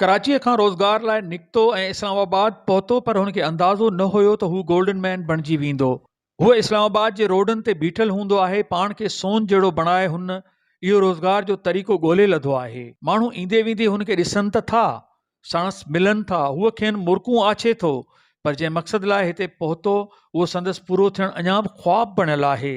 ڪراچيء کان روزگار لاء نڪتو ۽ اسلام آباد پهتو پر هن کي اندازو نه هيو ته هو گولڊن مين بڻجي ويندو. هو اسلام آباد جي روڊن تي بيٺل هوندو آهي، پاڻ کي سون جهڙو بڻائي هن اهو روزگار جو طريقو ڳولهي لڌو آهي. ماڻهو ايندي ويندي هن کي ڏسن ته ٿا، ساڻس ملن ٿا، هو کين مرڪون آڇي ٿو، پر جنهن مقصد لاء هتي پهتو، اهو سندس پورو ٿيڻ اڃا به خواب بڻيل آهي.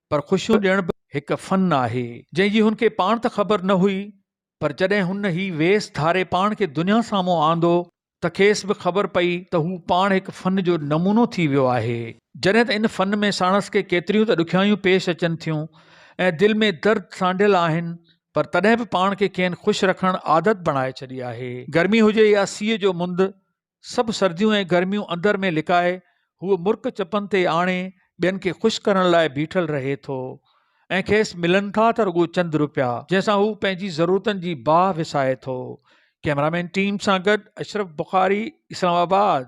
پر خوشيون ڏيڻ به هڪ فن آهي، جنهن جي هن کي پاڻ ته خبر نه هئي، پر جڏهن هن هي ويس ڌاري پاڻ کي دنيا سامهون آندو ته کيس به خبر پئي ته هو پاڻ هڪ فن جو نمونو ٿي ويو آهي. جڏهن ته ان فن ۾ ساڻس کي ڪيتريون ته ڏکيائيون پيش اچن ٿيون ۽ دل ۾ درد سانڍيل آهن، پر تڏهن به پاڻ کي کين خوش رکڻ عادت بڻائي ڇڏي آهي. گرمي هجي يا سيء جو مند، سڀ سرديون ۽ گرميون اندر ۾ لڪائي هو مرڪ چپن تي آڻي ٻين کي خوش ڪرڻ لاء بيٺل رهي ٿو ۽ کيس ملن ٿا ته رڳو چند روپيا جنهن سان هو پنهنجي ضرورتن جي باهه وسائي ٿو ڪئميرامين ٽيم سان گڏ اشرف بخاري اسلام آباد.